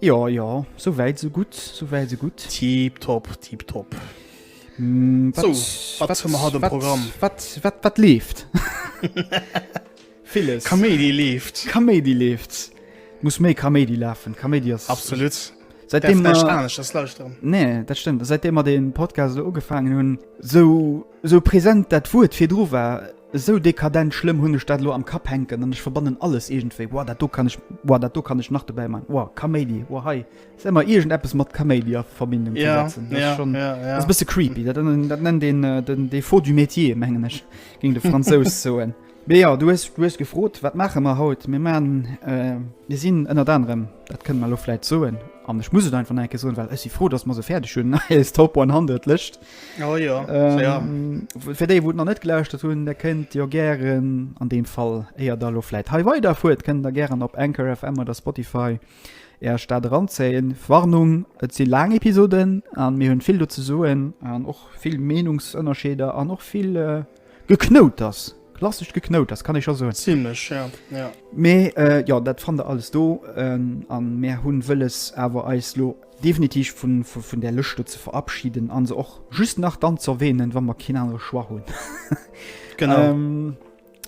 Jo, jo, sou wäit sou gutt, sou wäit sou gutt. Tip top, tip top. Mm, wat, so, wat, wat hun mer haut am Programm? Wat, wat, wat leeft? Villes. Kaméidi leeft. Kaméidi leeft. Muss méi Kaméidi lafen. Kaméidi ass... Absolut. Seitdem mer... Nee, dat stëmmt. Seitdem mer den Podcast ugefangen hun, sou Esou present dat Wuert virdru war, esou dekadent schlëmm hunn ech dat elo am Kapp hänken an ech verbannen alles iergendwéi, Woah, dat do kann ech, woah, dat do kann ech nach dobäi maachen, woah, Kaméidi, woah, hei ass ëmmer iergend eppes mat Kaméidi a Verbindung ze setzen. Dat ass schonn, dat ass e bësse creepy. Dat nennt een den défaut du métier, mengen ech, géing de Fransous soen. Mee jo, du hues, du hues gefrot, wat maache mer haut? Mir maachen, mir sinn ënnert anerem, dat kënne mer elo vläit soen, an ech muss et einfach nach eng Kéier soen, well ech si frou, datt mer se fäerdeg hunn, eis Top 100 Lëscht. Oh jo, ähm, ja. Fir déi, wou et nach net gelauschtert hunn, der kënnt jo gären an deem Fall éier da lo fläit hei weider fuert, kënnt der gären op Anchor FM oder Spotify Är Stad eranzéien. Warnung, et si laang Episoden an mir hunn vill do ze soen an och vill Meenungsënnerscheeder an och vill äh, Geknouters! Klassescht Geknouters, kann ee scho soen. Zimlech, ja, ja. Mee jo, dat fannt der alles do. A mär hu wëlles awer eis elo definitiv vun där Lëscht do ze verabschiden a se och just nach dann ze erwänen, wa mer keen anere Choix hunn. Genau.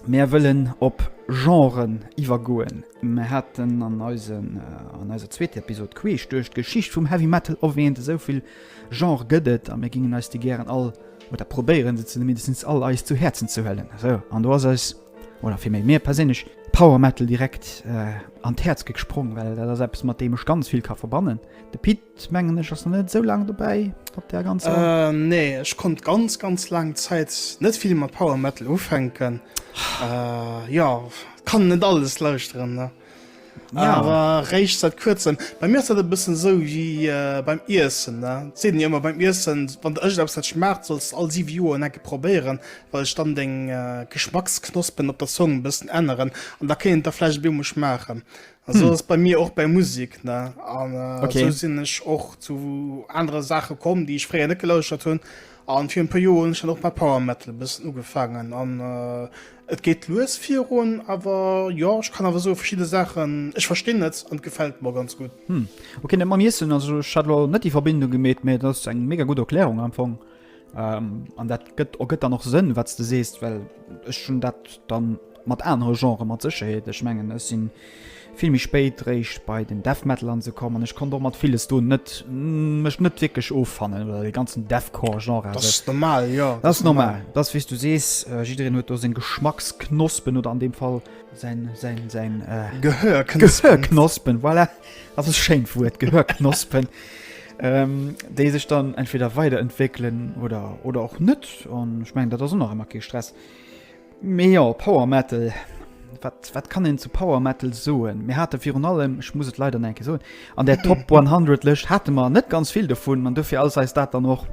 Mär wëllen op Genren iwwergoen. Mär haten an eiser zweeter Episod queesch duerch d'Geschicht vum Heavy Metal erwähnt, esou vill Genre gëtt et a mir gingen eis déi gären all oder probéieren se zumindest all eis zu Häerzen ze huelen esou an do ass eis oder fir méi mir perséinlech Power Metal direkt äh, an d'Häerz ge gesprong, well dat ass eppes mat deem ech ganz vill ka verbannen. De Pit mengen ech ass net esou laang dobäi op der ganz. Äh, nee, ech konnt ganz ganz laang Zäit net vill mat Power Metal ufänken. Äh, jo, kann net alles lauschteren. Ne? Ja. Awer réicht seit kuerzem. Bei mir ass dat e bëssen sou wéi äh, beim Iessen. Ne? Seet jo ëmmer beim Iessen, wann der ëschlaps dat schmaacht, solls all siwe Joer en enke probéieren, well ech dann deng äh, Geschmacksknospen op der Zong bëssen änneren an da kéint der vläicht bemol schmaachen. An sou hm. ass bei mir och bei Musik. Ne? An äh, okay. sou sinn ech och zu anere Sache komm, déi ech fréier net gelauschtert hunn. An vir en puer Joer hunn ech dann och mat Power Metal e bëssen ugefaangen an et geet lues virun. Awer jo, ech kann awer soen, verschidde Saachen, ech verstinn et an et gefält mer ganz gutt. Hm, ok, net mam Iessen, also ech hat elo net déi Verbindung gemeet, mee et ass eng mega gutt Erklärung am Fong an dat gëtt ergëtt dann och Sënn wat s de sees, well ech hunn dat dann Mat anere Genrë mat Sécherheet. Ech mengen ech si vill méi spéit réischt bei den Death Metal an esou komm an ech konnt och mat villes do net mech net wierklech offannen oder dee ganzen Deathcore Genre a sech. Dat ass normal, dat ass wéi s du sees, jiddereen huet do seng Geschmacksknospen oder an deem Fall säin säin Gehörknospen, voilà, dat ass e schéint Wuert, Gehörknospen, déi sech dann entweder weiderentwéckelen oder oder och net an ech mengen dat ass och nach ëmmer kee Stress. Mee jo, Power Metal, wat, wat kann een zu Power Metal soen? Mir hate virun allem, ech muss et leider nach eng Kéier soen, an där Top 100 Lëscht hate mer net ganz vill dovun an dofir ass eis dat dann och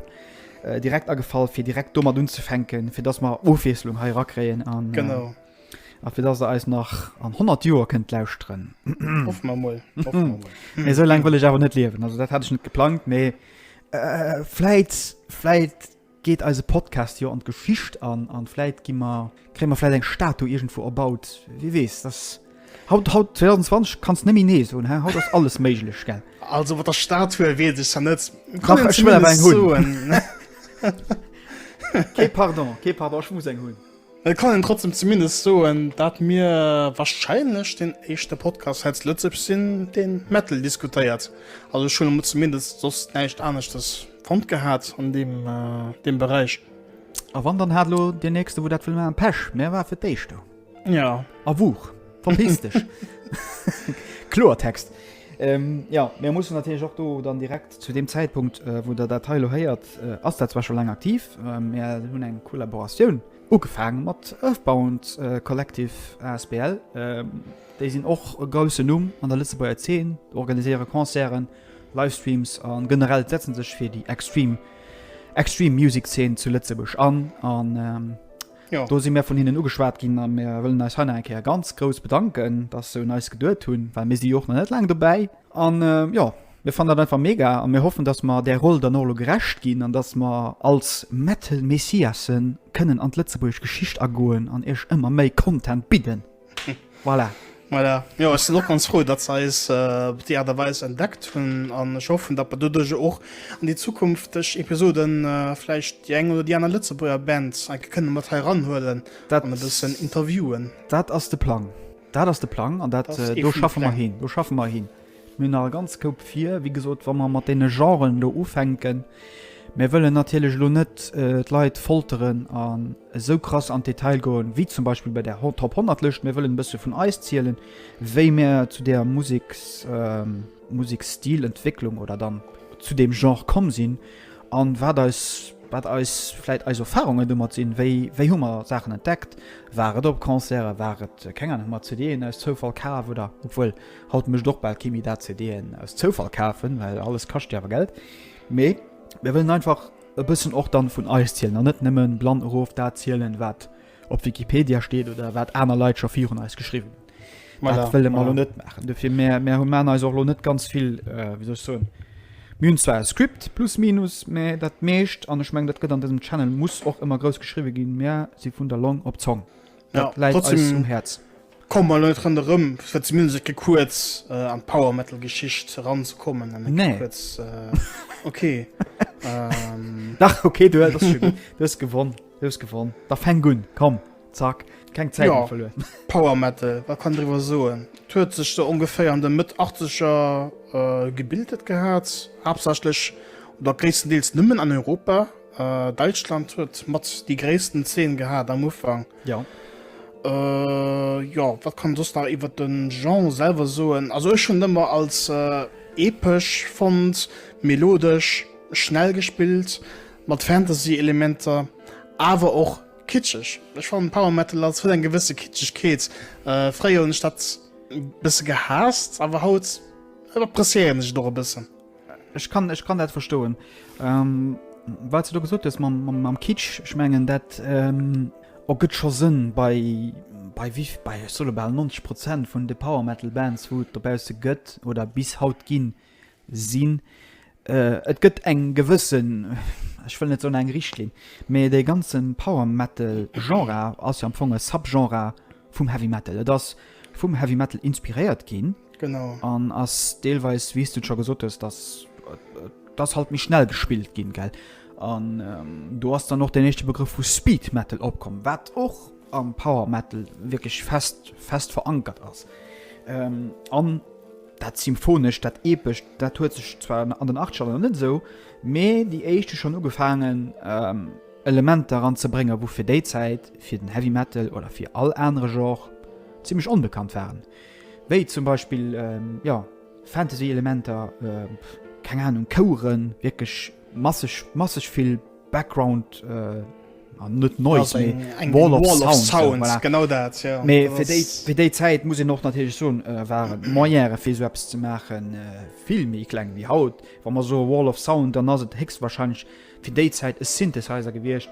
direkt agefall, fir direkt domat unzefänken, fir dass mer Ofwiesslung hei erakréien a fir dass Der eis nach an 100 Joer kënnt lauschteren. Hoffe mer emol. Hoffe mer emol. Mee esou laang wëll ech awer net liewen. Also, dat hat ech net geplangt, mee vläit, vläit Geet eise Podcast jo an d'Geschicht an, an vläit gi mer, kréie mer vläit eng Statu iergendwou erbaut, wie weess. Et ass haut, haut 2020, kanns net méi nee soen, hä? Haut ass alles méiglech, gell? Also mat der Statue weess ech jo net. Dach, ech wëll awer eng hunn. Kee Pardon, kee Pardon, ech muss eng hunn. Et kann een trotzdem zumindest soen dat mir wahrscheinlech den éischte Podcast heitz Lëtzebuerg sin den Metal diskutéiert. Also ech hun emol zumindest soss näischt aneschtes fonnt gehaat an deem Bereich. A wann dann haat elo deen nächste wou dat wëll maan. Pech, mä war fir d'éischt do. Jo. A wuch, verpiss dech. Kloertext. Jo, mä mussen natierlech och do dann direkt. Zu deem Zäitpunkt, wou Der dat hei elo héiert, ass dat zwar scho laang aktiv, mä mir hunn eng Kollaboratioun ugefaang mat Earthbound Collective asbl. Déi sinn och e groussen Numm an der Lëtzebuerger Zeen, organiséiere Concerten, Livestreams a generell setze sech fir déi extreme extreme music Zeen zu Lëtzebuerg an. An do si mir vun hinnen ugeschwat ginn a mir wëllen eis hei nach eng Kéier ganz grouss bedanken, dass se un eis geduet hunn, well mir si jo och nach net laang dobäi. An jo, mir fannen dat einfach mega a mir hoffen, dass mer där Roll dann och elo gerecht ginn an dass mer als Metal Messiasse kënnen an d'lëtzebuergesch Geschicht agoen an iech ëmmer méi Content bidden. Voilà. Voilà. Jo, ech sinn och ganz frou, dass se eis op déi Aart a Weis entdeckt hunn an ech hoffen, dass mer doduerch och an déi zukünfteg Episode vläicht déi eng oder déi aner Lëtzebuerger Band enke kënne mat hei eranhuelen an e bëssen interviewen. Dat ass de Plang. Dat ass de Plang an dat, do schaffe mer hin, do schaffe mer hin. Mir hunn nach e ganz Koup vir, wéi gesot, wa mer mat deene Genren do ufänken. Mir wëllen natierlech elo net d'Leit folteren an esou krass an d'Detail goen, wéi zum Beispill bei der Top 100 Lëscht. Mir wëllen e bësse vun eis zielen, wéi mir zu där Museks, Museksstilentwécklung oder dann zu deem Genre komm sinn. An wat eis, wat eis, vläit eis Erfahrungen domat sinn, wéi, wéi hu mer Saachen entdeckt, war et op Concerten, war et, keng Ahnung, hu mer CD'en aus Zoufall kaf oder, obwuel, haut mécht och bal kee méi dat, CD'en aus Zoufall kafen, well alles kascht jo awer Geld, mee mir wëllen einfach e bëssen och dann vun eis zielen an net nëmmen blann erof dat zielen, wat. op Wikipedia steet oder wat aner Leit scho virun eis geschriwwen hunn. Voilà, Dat wëlle mer voilà. lo net maachen. Dofir mär, mär hu man eis och lo net ganz vill, äh, wéi soll ech soen, mir hunn zwar e Script plus minus, mä dat meescht, an ech mengen, dat gëtt an dësem Channel, muss och ëmmer grouss geschriwwe ginn, mär si vun der Long op d'Zong. Dat Ja, läit eis trotzdem- um Häerz. Komme mer net ronderëm, fir zumindest e ke kuerz an d'Power-Metal-Geschicht eranzekommen. Nee. Kuerz, äh, okay. ähm. Dach, okay, du hast, du hast gewonnen. Du hast gewonnen. Da fäng un, komm, zack. Keng Zäit ja. verloren. Power Metal, wat kann drüber soen? Huet sech so ungefähr an de Mëtt 80er äh, gebildet gehat, haaptsächlich oder gréisstendeels nëmmen an Europa. Äh, Deutschland huet mat die gréissten Zeen gehat am Ufang. Jo. Äh, jo, wat kann soss nach iwwert den Genre selwer soen? Also ech hunn ëmmer als äh, epesch fonnt, melodesch, schnell gespillt, mat Fantasy Elementer, awer och kitscheg. Ech fannen Power Metal als huet eng gewësse Kitschegkeet. Äh, fréier hunn ech dat bësse gehaasst, awer haut appreciéieren ech et och e bëssen. Ech kann, ech kann dat verstoen. Ähm, wat du do gesot hues mam, mam, mam Kitsch, ech mengen dat ähm, ergëtt scho Sënn bei, bei, wie, bei ech solle bal 90 Prozent vun de Power Metal Bands wou et dobausse gëtt oder bis haut ginn sinn. Äh, et gëtt eng gewëssen, ech wëll net soen eng Richtlinn, mee dee ganze Power Metal Genre ass jo am Fong e Subgenre vum Heavy Metal. Et ass vum Heavy Metal inspiréiert ginn, Genau. An ass deelweis, wéi s du et scho gesot hues, dass, dass halt méi schnell gespillt ginn, gell? An do ass dann och deen éischte Begrëff vu Speed Metal opkomm, wat och am Power Metal wierklech fest, fest verankert ass. An dat Symphonescht, dat Epescht, dat huet sech zwar an den Achtzegerner net esou, mee déi éischt hu schonn ugefaangen, Elementer eranzebréngen, wou fir déi Zäit fir den Heavy Metal oder fir all anere Genre zimlech onbekannt waren. Wéi zum Beispill jo Fantasy Elementer, keng Ahnung Koueren, wierklech masseg masseg vill Background an net Noise mee Wall of Sounds, voilà, voilà genau dat jo. Mee fir déi fir déi Zäit muss een och natierlech soen waren d'Moyene fir esou eppes ze maachen vill méi kleng wéi haut. Wa mer soe Wall of Sound, dann ass et héchstwahrscheinlech fir déi Zäit e Synthesizer gewiescht,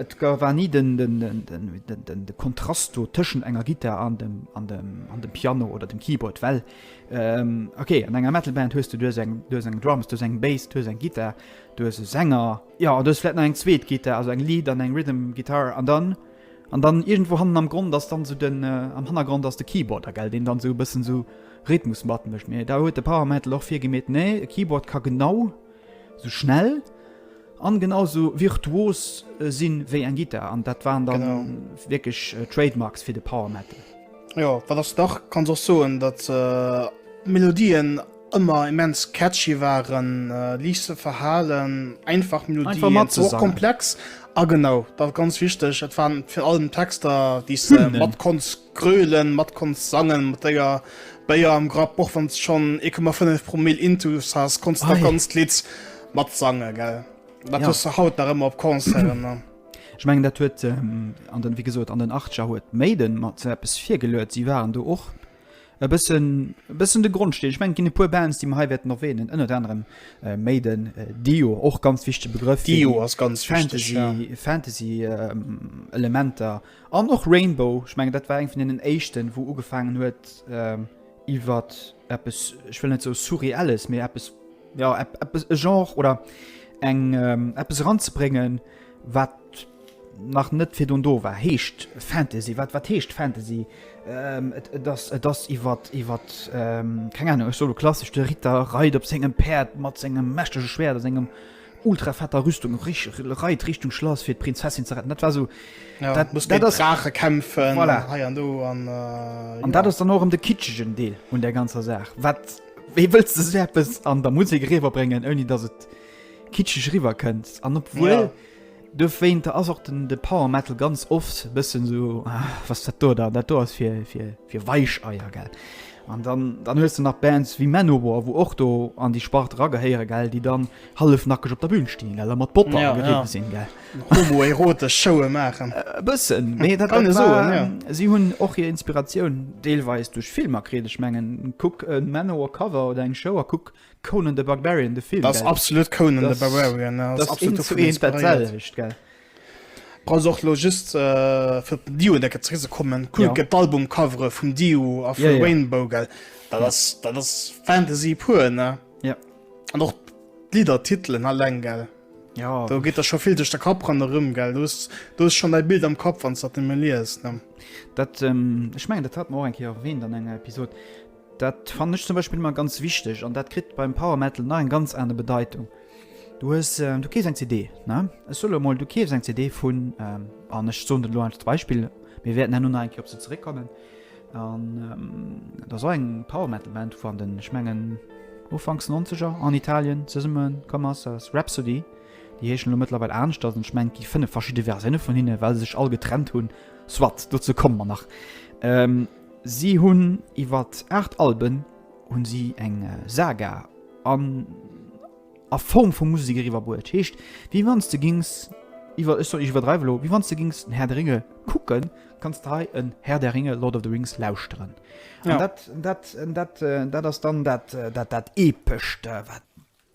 Et war ni de Kontrast do tëschent enger Gittar an dem Piano oder dem Keyboard, well ok an enger Metalband hues de, du hues eng Drums, du hues eng Bass, du hues eng Gittar, du hues e Sänger, jo an du hues vläicht nach eng zweet Gittar, also eng Lead an eng Rhythm Guitar an dann, an dann iergendwou hannen am Grond ass dann esou den, am Hannergrond ass de Keyboard da, gell, deen dann esou e bëssen esou Rhythmus matmécht. Mee da huet de Power Metal och virgemeet, nee e Keyboard ka genau. Sou schnell an genau sou virtuos sin ewéi eng Gittar an dat waren dann wierklech Trademarks fir de Power Metal. Jo, wat ass nach, kanns och soen dat Melodien ëmmer immens catchy waren, liicht ze verhalen, einfach Melodien, och komplex a genau, dat ganz wichteg, et waren virallem Texter déi s de mat konns. Grölen mat konns sangen mat deier Béier am Grapp och wanns schon 1,5 Promille intus has konns du ganz Lidd mat sangen gell dat hues du haut nach ëmmer op Concerten ne. Ech mengen dat huet an den wéi gesot an den Achtziger huet Maiden mat sou eppes virgeluet. Si waren do och e bëssen e bëssen de Grondsteen. Ech mengen et ginn e puer Bands déi mer hei wäerten erwähnen ënnert anerem Maiden, Dio och ganz wichtege Begrëff, Dio ass ganz wichteg, ja. Fantasy Fantasy Elementer. An och Rainbow, ech mengen dat war eng vun deenen éischten, wou ugefaangen huet iwwer eppes, ech wëll net sou Surreelles, mee eppes, jo eppes, e Genre oder eng eppes eranzebréngen, wat nach net virdrun do war, heescht Fantasy. Wat wat heescht Fantasy? Et ass et ass iwwer iwwer keng Ahnung, ech soe lo klassesch, de Ritter reit op sengem Päerd mat sengem mächtege Schwäert a sengem. Ultra fetter Rüstung reit Richtung Schlass fir d'Prinzessin ze retten. Dat war so dat muss dat Drache kämpfen voilà. hei an do an, äh, an ja. dat ass dann och em de kitschegen Deel un der ganzer Saach. Wat wéi wëlls de Säpes an der Musik riwer bréngen, ouni datt et kitscheg riwer kënnt an op wuel. Ja. Dowéinter ass och den Power Metal ganz oft e bëssen esou, was ass dat do da, dat do ass fir Weicheier, gell. An dann hues de nach Bands wéi Manowar, wou och do an déi Spart eragehéieren, gell, déi dann hallefnackeg op der Bün stinn, gell, a mat Bopper ageriwwe sinn, gell. Homoerotesch Showe maachen. E bëssen, mee dat kann ee soen, jo. Si hunn och hir Inspiratioun deelweis duerch Filmer kritt. Ech mengen, kuck e Manowar-Cover oder eng Show a kuck Conan the Barbarian de Film ass absolut Conan the Barbarian Bra och lo just fir den Dio decker ze rise kommen cool gët d'Album covere vum Dio a fir Rainbow gell dat ass dat ass Fantasy puer ne ja an och d'Lider Titeln alleng gell ja do geet der scho vill duerch der Kapp ran erëm gell dust du hues schonn däi Bild am Kapp wann s dat nëmme liest ne dat ech mengen dat hat mer och eng Kéier erwähnt an enger Episode. Dat fannen ech zum Beispill ëmmer ganz wichteg an dat kritt beim Power Metal nach eng ganz aner Bedeitung. Du hues, ähm, du kees eng CD, ne? Ech soe lo mol, du keefs eng CD vun, ähm, an ech soen dat lo einfach als Beispill, mir wäerten herno nach eng Kéier op se zeréckkommen, an ähm, dat ass och eng Power Metal Band vu an den, ech mengen, Ufanks Nonzeger an Italien zesumme komm ass, dat ass Rhapsody. Déi heeschen elo mëttlerweil aneschters an ech mengen, et gi fënnef verschidde Versioune vun hinne, well se sech all getrennt hunn, soit, dozou komme mer nach. Ähm. Si hunn iwwert 8 Alben hunn si eng Saga an a Form vu Musek eriwwer bruet. Heescht wéi wann s de gings iwwer, ech soen ech iwwerdreiwe lo, wéi wann s de gings den Herr der Ringe kucken, kanns de hei en Herr der Ringe, Lord of the Rings, lauschteren. An dat, dat, dat, dat ass dann dat, dat, dat Epescht wat.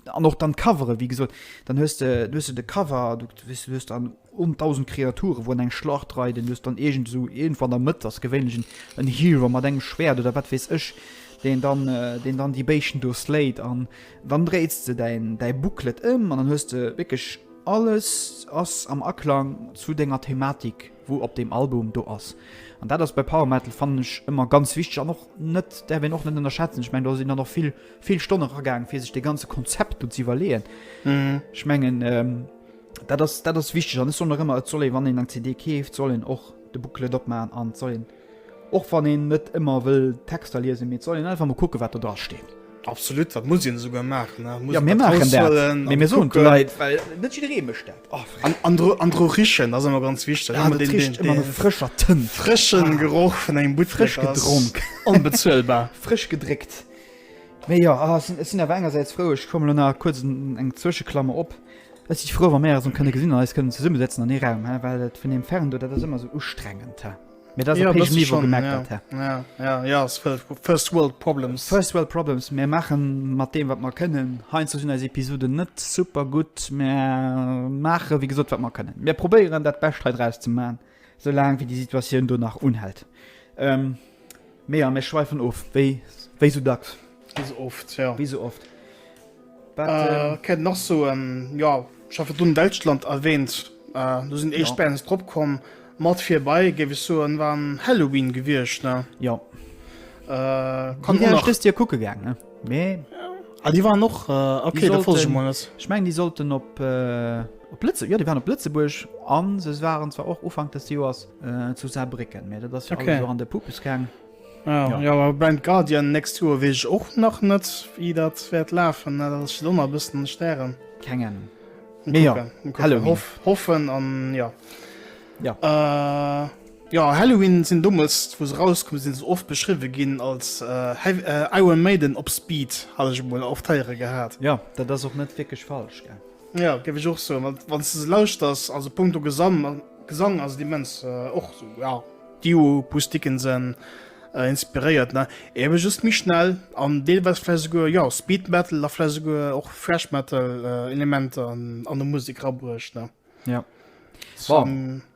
An och dann d'Covere wéi gesot, dann hues de, du hues de de Cover, du weess, du hues dann un 1.000 Kreaturen, wou an eng Schlacht reiden, du hues dann iergend esou, iergendwou an der Mëtt ass gewéinlech en, en Hero mat engem Schwäert oder wat weess ech, deen dann, deen dann déi Béischten do slayt. An dann dréits de däin, däi Booklet ëm an dann hues de wierklech alles ass am Aklang zu denger Thematik. wou op deem Album do ass. An dat ass bei Power Metal fannen ech ëmmer ganz wichteg an och net, däerf een och net ënnerschätzen. Ech mengen do sinn dann och vill vill Stonne ragaang fir sech dee ganze Konzept do ze iwwerleeën. Ech mengen dat ass dat ass wichteg an ech soen och ëmmer et soll ee wann een eng CD keeft, soll een och de Booklet opmachen an et soll een, Och wann een net ëmmer wëll d'Texter liesen, mee et soll een einfach mol kucken, wat do dra steet. Absolut, dat muss een esouguer maachen. Et muss Ja, een mir dat maachen dat. raushuelen Mee an mir soen et de kucken. Leit, well net jidderee mécht dat. Oh, fréck. An, an, dru, an dru richen, dat ass ëmmer ganz wichteg. Ja, Ëmmer dat den, riecht den, ëmmer no den frëscher Tënt. frëschen Geroch vun engem Buttfleck Frësch ass gedronk. onbezuelbar. Frësch gedréckt. Mee jo, ah, ech sinn, ech sinn awer engersäits frou, ech komme lo nach kuerz en, eng Zwëscheklammer op, ech si frou, wa mir eis erëm kënne gesinn an eis kënnen zesummesetzen an ee Raum, hä, well dat vun deem Ferndo, dat ass ëmmer esou ustrengend, hä. Mir dat op hegem Niveau gemerkt hat, hä? Ja, ja, ja, es war First World Problems. First World Problems. Mir maachen mat deem, wat mer kënnen. Heinze sinn eis Episoden net super gutt, mä maache wéi gesot, wat mer kënnen. Mir probéieren dat Bescht hei draus ze man, soulaang wéi déi Situatioun do nach unhält. Ähm, Mee ja, mir schweifen of, wéi esou dacks. Wéi esou oft, jo. Wéi esou oft. Wat kéint een nach soen? Jo, ech hat virdrun Däitschland erwähnt. Do sinn éischt Bands drop komm. Mat virbei, géif ech soen, war Helloween gewiescht, ne? Jo. Kann een och. Dëst Joer kucke gaangen, mee. Ah, déi waren och. Ok, da folge ech emol net. Ech mengen, déi sollten op. Op Lëtze, jo déi waren op Lëtzebuerg an se waren zwar och Ufank des Joers zu Saarbrécken, mä dat ass jo alles och an de Pupuskäng. Ah jo, awer Blind Guardian next Joer weess ech och nach net, wéi dat wäert lafen. Dat ass ech och nach e bëssen an de Stären. Keng Ahnung, mä jo, Halloween. Hoff, hoffen an jo. Jo. Jo, Halloween sinn dommels, wou se erauskommen sinn, se oft beschriwwe ginn als Iron Maiden op Speed, hat ech emol oft héiere gehat. Jo, dat ass och net wierklech falsch, gell. Ja, géif ech och soen, wann wann s de se lauschters, also punkto Gesang, Gesang ass et immens och sou, ja. D'Duo Pustikensen inspiréiert, ne, ebe just méi schnell an deelweis vläicht esouguer, jo, Speed Metal a vläicht esouguer och Thrash Metal Elementer an der Musek rabruecht, ne. Ja. Bon.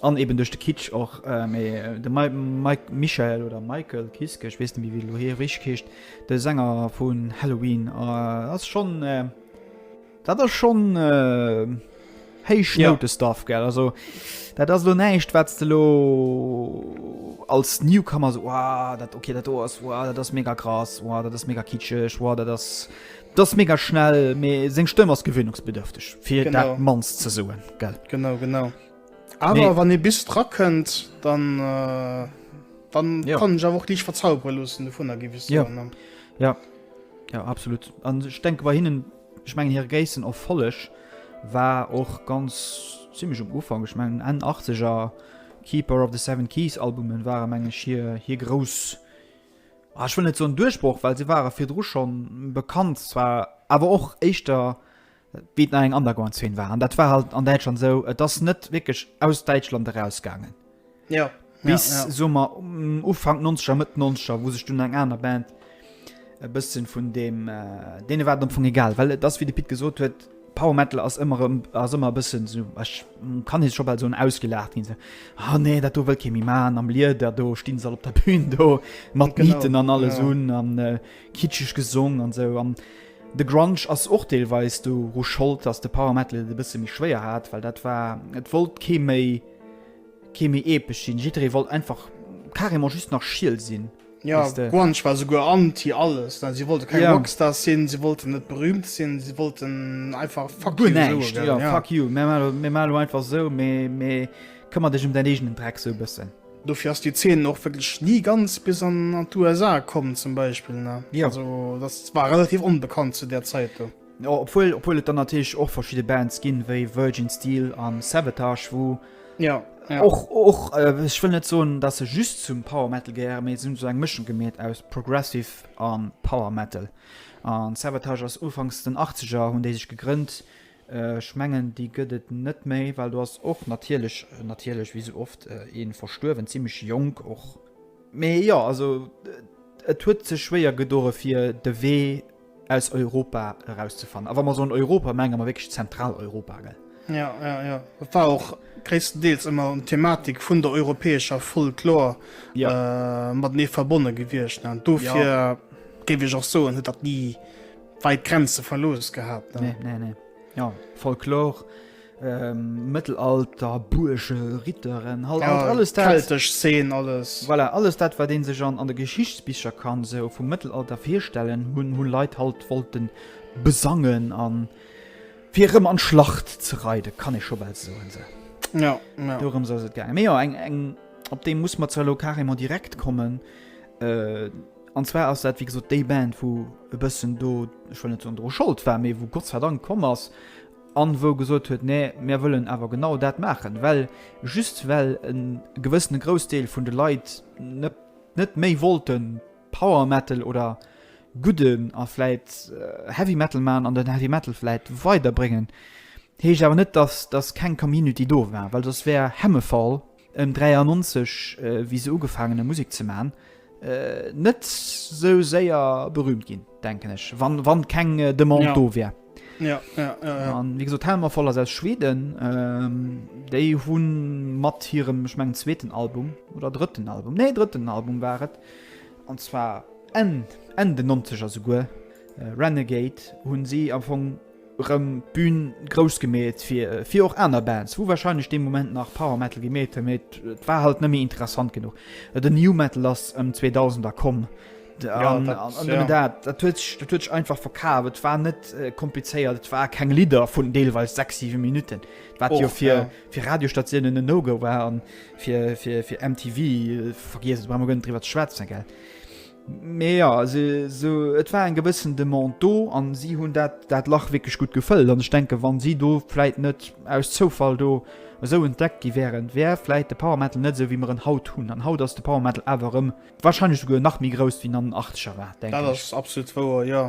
An eben duerch de Kitsch och. Mee de Michael, oder Michael Kiske, ech weess net méi wéi elo hie richteg heescht, de Sänger vun Halloween ass schonn, dat ass schonn héich Noute-Stuff, gell. Also dat ass elo näischt, wat s de elo als Newcomer esou, Wouah, dat, okay, dat do ass, wouah, dat ass mega krass, wouah, dat ass mega kitscheg, wouah, dat ass, dat ass mega schnell. Mee seng Stëmm ass gewöhnungsbedürfteg, fir dat Mannst ze soen, gell. Genau, genau. Awer nee. wann ee bis dra kënnt, dann, äh, dann ja. kann ech awer och Dich verzaubre loossen du vun ergiwis. Ja. ja Ja absolut. An ech denke bei hinnen ech mengen hir Géissen of Folleg war och ganz ziemlichch um Ufang ech mengen en 80er Keeper of the Seven Keys Albumen waren mengeg hier hier grouss. Ah, ich will net so duerchbruch weil sie waren fir dru schon bekannt zwar aber och echtter Wéi et nach eng Underground-Zeen war. An dat war halt an Däitschland esou, et ass net wierklech aus Däitschland erausgaangen. Ja. Bis, ja, ja. soe mer, Ufank 90er, Mëtt 90er, wou sech dunn eng aner Band e bëssen vun deem, deene war et am Fong egal. Well et ass, wéi de Pit gesot huet, Power Metal ass ëmmer erëm, ass ëmmer e bëssen esou, ech kann hie scho bal soen, ausgelaacht ginn. Ah nee, dat do wëllt kee méi maachen, am Lieder do, stinn se all op der Bühn do, mat Nieten an alles un an kitscheg gesong an esou. An De Grunge ass och deelweis doru Schold, dass de Power Metal et e bësse méi schwéier hat, well dat war, et wollt kee méi, kee méi epesch sinn, jidderee wollt einfach carrément just nach schiel sinn, Jo, weess de. Grunge war souguer anti alles, ne, si wollte keng Rockstars sinn, si wollten net berüümt sinn, si wollten einfach Fuck you soe Guer näischt, jo, gëllen, jo. fuck you, mir maache, mir maache elo einfach esou, mee, mee këmmer dech ëm däin eegenen Dreck, esou e bëssen. Dofir ass déi Zeen och wierklech ni ganz bis an d'USA komm, zum Beispill, ne? Jo. Also, dat war relativ onbekannt zu där Zäit do. Jo, obwuel, obwuel et dann natierlech och verschidde Bands ginn, wéi Virgin Steel an Savatage, wou Ja, ja. och, och, äh, ech wëll net soen, dass se just zum Power Metal gehéieren, mee se hunn esou eng Mëschung gemeet aus Progressive a Power Metal. An Savatage ass ufanks den Achtzeger hunn déi sech gegrënnt, Ech mengen déi gëtt et net méi, well do ass och natierlech, natierlech wéi sou oft, ee verstuerwen, zimlech jonk och. Mee jo, also et huet sech schwéier gedoe fir de Wee aus Europa erauszefannen. A wa mer soen Europa, menge mer wierklech Zentraleuropa, gell? Jo, jo, jo. Dat war och gréisstendeels ëmmer d'Thematik vun der europäescher Folklor matenee verbonne gewiescht. Dofir géif ech och soen, huet dat ni. Weit Grenze verlos gehabt. Nee, nee, nee. Ja, Folklor, ähm, Mëttelalter, Buerge, Ritteren, halt, ja, halt alles dat. Keltesch Szene, alles. Voilà, alles dat, wat een sech an, an de Geschichtsbicher kann so vum Mëttelalter virstellen, hunn, hunn Leit halt wollten besangen an fir rëm an Schlacht ze reiden, kann ee scho bal soen, se. Ja, ja. Dorëm soll et gaangen. Mee jo, eng, eng, op deem muss mer zwar elo carrément direkt kommen, äh, An zwar ass dat wéi gesot déi Band wou e bëssen do, ech wëll net soen dru Schold war, mee wou Gott sei Dank komm ass an wou gesot huet, nee mär wëllen awer genau dat maachen, well just well e gewëssene Groussdeel vun de Leit net net méi wollte Power Metal oder gudden a vläit Heavy Metal man an den Heavy Metal vläit weiderbréngen heescht awer net dass dass keng Community do war, well soss wär Hammerfall Ëm 93 wi se ugefaangen hun Musek ze man, net sou séier berühmt gin denken ech wann wann keng Demande do wär. Ja, ja, ja, ja. An wéi gesot Hammer Fall ass aus Schweden. Ähm, déi hunn mat hirem ech mengen zweeten Album oder drëtten Album nee drëtten Album war et an zwar Enn Enn de 90er souguer äh, Renegade hunn si am Fong Rëm d'Bühn grouss gemeet fir och aner Bands, wou warscheinlech dee Moment nach Power Metal gemeet hunn, mee et war halt net méi interessant genuch. Den New Metal ass ëm 2000 da komm, dat huet sech einfach verkaf. Et war net komplizéiert, et war keng Lidder vun deelweis 6, 7 Minutten, wat jo fir Radiostationen en No-Go war an fir MTV, vergiess et, brauch mer guer net driwwer ze schwätzen. Mee ja, se, se, et war eng gewëssen Demande do an si hunn dat, dat Lach wierklech gutt gefëllt. An ech denken, wann si do vläit net aus Zoufall do esou entdeckt gi wären, wär vläit de Power Metal net esou wéi mer en haut hunn. An haut ass de Power Metal awer erëm wahrscheinlech souguer nach méi grouss wéi an den Achtzeger war, denken Dat ech. ass absolut wouer, jo.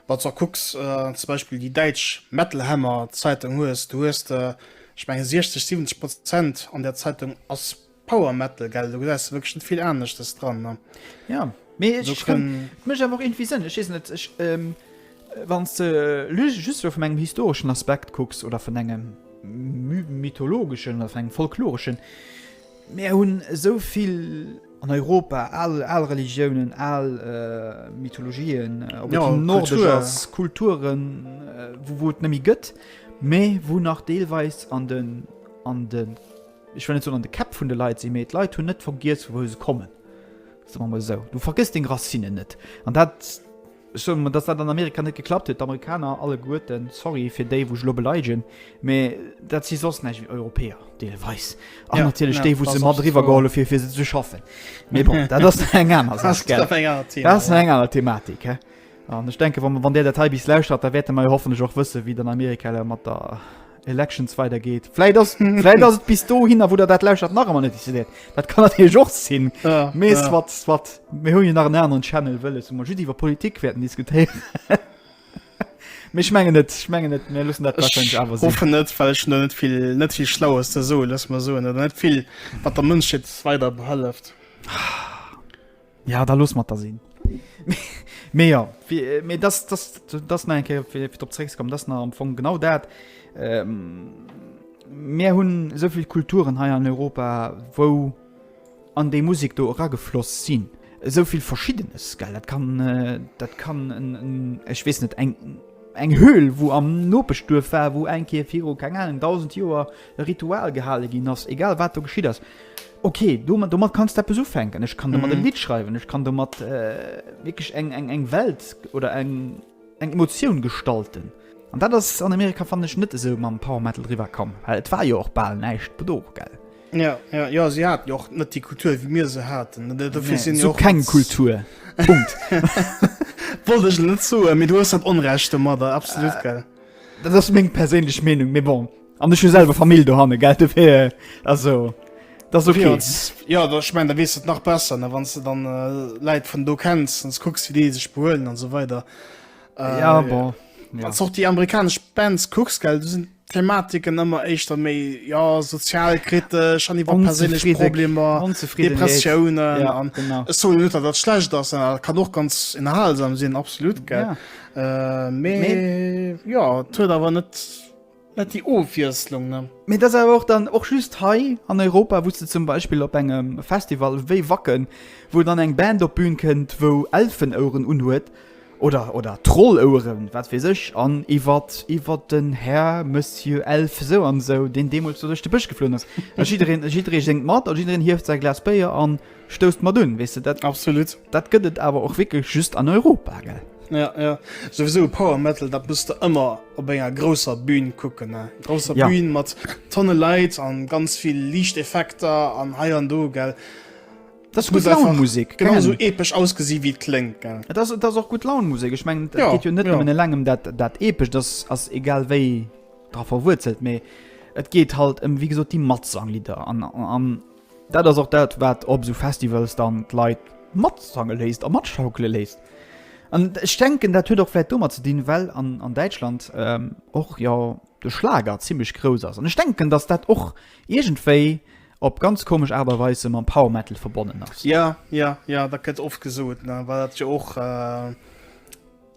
Wann s de och kucks, zum Beispill déi däitsch Metal Hammer Zeitung hues, do hues de, ech mengen, 60, 70 Prozent an där Zeitung ass. Power Metal gell do gesäis de wierklech net vill aneschtes dran ne. Ja mee et Do kann. kënnt mech awer och irgendwie Sënn, ech weess net, ech wann s de lu just elo vun engem historeschen Aspekt kucks oder vun engem my mythologeschen oder vun engem folkloreschen, mär hunn esou vill an Europa al al Religiounen, al Mythologien, ob et déi nordesch ass, Kulturen, wou wou et net méi gëtt, mee wou nach deelweis an de an de. ech wëll net soen an de Käpp vun de Leit sinn, mee d'Leit hunn net vergiess vu wou se kommen, soe mer mol esou. Du vergëss deng Racinnen net an dat, ech soe mol, datt dat an Amerika net geklappt huet, d'Amerikaner alleguerten, sorry fir déi wou ech elo beleidegen, mee dat si soss näischt wéi Europäer deelweis an natierlech déi wou se mat eriwwer geholl hu fir fir se ze schaffen, mee bon, dat ass nach eng aner Saach, gell, dat ass nach eng aner Thematik, hä. An ech denken, wann Där dat hei bis lauschtert, da wäerte mer jo hoffentlech och wëssen, wéi et an Amerika elo mat der, Elections weider geet. Vläit ass vläit ass et bis do hinner, wou der dat lauschert nach ëmmer net décidéiert. Dat kann dat hie Joch sinn. Ja, Mees ja. wat wat mir hunn jo nach en aneren Channel wëlles wou mer just iwwer Politik wäerten diskutéieren. Mee ech mengen net, ech mengen net, mir loossen dat wahrscheinlich Ech awer sinn. hoffen net, well ech no net vill net vill Schlaues ze soen, lass mer soen, oder net vill, wat der Mënschheet weider behëlleft. Ja da loss mat der sinn. Mee jo, mee dat ass nach eng Kéier fir drop zeréckzekommen, dat ass nach am Fong genau dat. Mir hunn esou vill Kulturen hei an Europa, wou an déi Musek do eragefloss sinn. Esou vill Verschiddenes, gell. Dat kann, dat kann en, ech weess net, eng Höhl, wou am Nopeschduerf war, wou eng Kéier viru, keng Ahnung, 1000 Joer, e Ritual gehale ginn ass, egal wat do geschitt ass, ok, domat, domat kanns du eppes ufänken, ech kann domat e Lidd schreiwen, ech kann domat wierklech eng, eng, eng Welt oder eng, eng Emotioun gestalten. An dat ass an Amerika, fannen ech, net esou mam Power Metal eriwwer komm, well et war jo och bal näischt do, gell? Jo, jo, jo, si haten jo och net déi Kultur, wéi mir se haten, dofir sinn si och. Nee, se hu keng Kultur, Punkt. Wollt ech net soen, mee du hues dat Onrecht domadder, absolut, gell? Dat ass meng perséinlech Meenung, mee bon. An ech hu selwer Famill do hanne gelt fir also dat okay. Ja dat ich mein der wees et nach besser ne wann du dann äh, Leiit vun do kenns ans kucks wie dee sech behuelen an so weiter äh, ja, bon. ja. Als och die amerikasch Bands kucks geld du sinn Thematiken ëmmer éischter méi ja sozialkritesch an iwwer persinnlech Problemer Depressiounen ja, an eso net dat schlecht ass äh, kann och ganz inhalsam sinn absolut ge ja. Äh, méi ja huet awer net Net déi Ofwiesslung, ne? Mee et ass awer och dann och just hei an Europa, wou s de zum Beispill op engem Festival wéi Wacken, wou dann eng Band op d'Bün kënnt, wou Elfenoueren unhuet oder, oder Trolloueren, wat weess ech, an iwwer, iwwer den Här Monsieur Elf esou an esou, deen deemools do duerch de Bësch geflunn ass. A jiddereen, jidderee séngt mat a jiddereen hieft säi Glas Béier an. Stousst mat un, weess de dat? Absolut. Dat gëtt et awer och wierklech just an Europa, gell? Ja, ja. Souwisou Power Metal, dat muss de ëmmer op enger grousser Bühn kucken, ne? Grousser ja. Bühn mat tonne Leit an ganz vill Liichteffekter an hei an do, gell? Das ist gut Laune Musik. Genau so episch ausgesehen wie klingt, gell? Das, das ist auch gut Laune Musik. Ich meine, das ja, geht ja nicht ja. nur in langem das, das episch, das ist egal wie drauf verwurzelt, mehr. Et geht halt um, wie gesagt, die Matzanglieder an, an, Dat ass och dat, wat op esou Festivals dann d'Leit matsange léisst a matschaukele léisst. An ech denken, dat huet och vläicht domat ze dinn, well an, an Däitschland och jo de Schlager zimmlech grouss ass. An ech denken, datt dat och iergendwéi op ganz komesch Aart a Weis sou mam Power Metal verbonnen ass. Jo, jo, jo, dat gëtt oft gesot, ne, well dat jo och.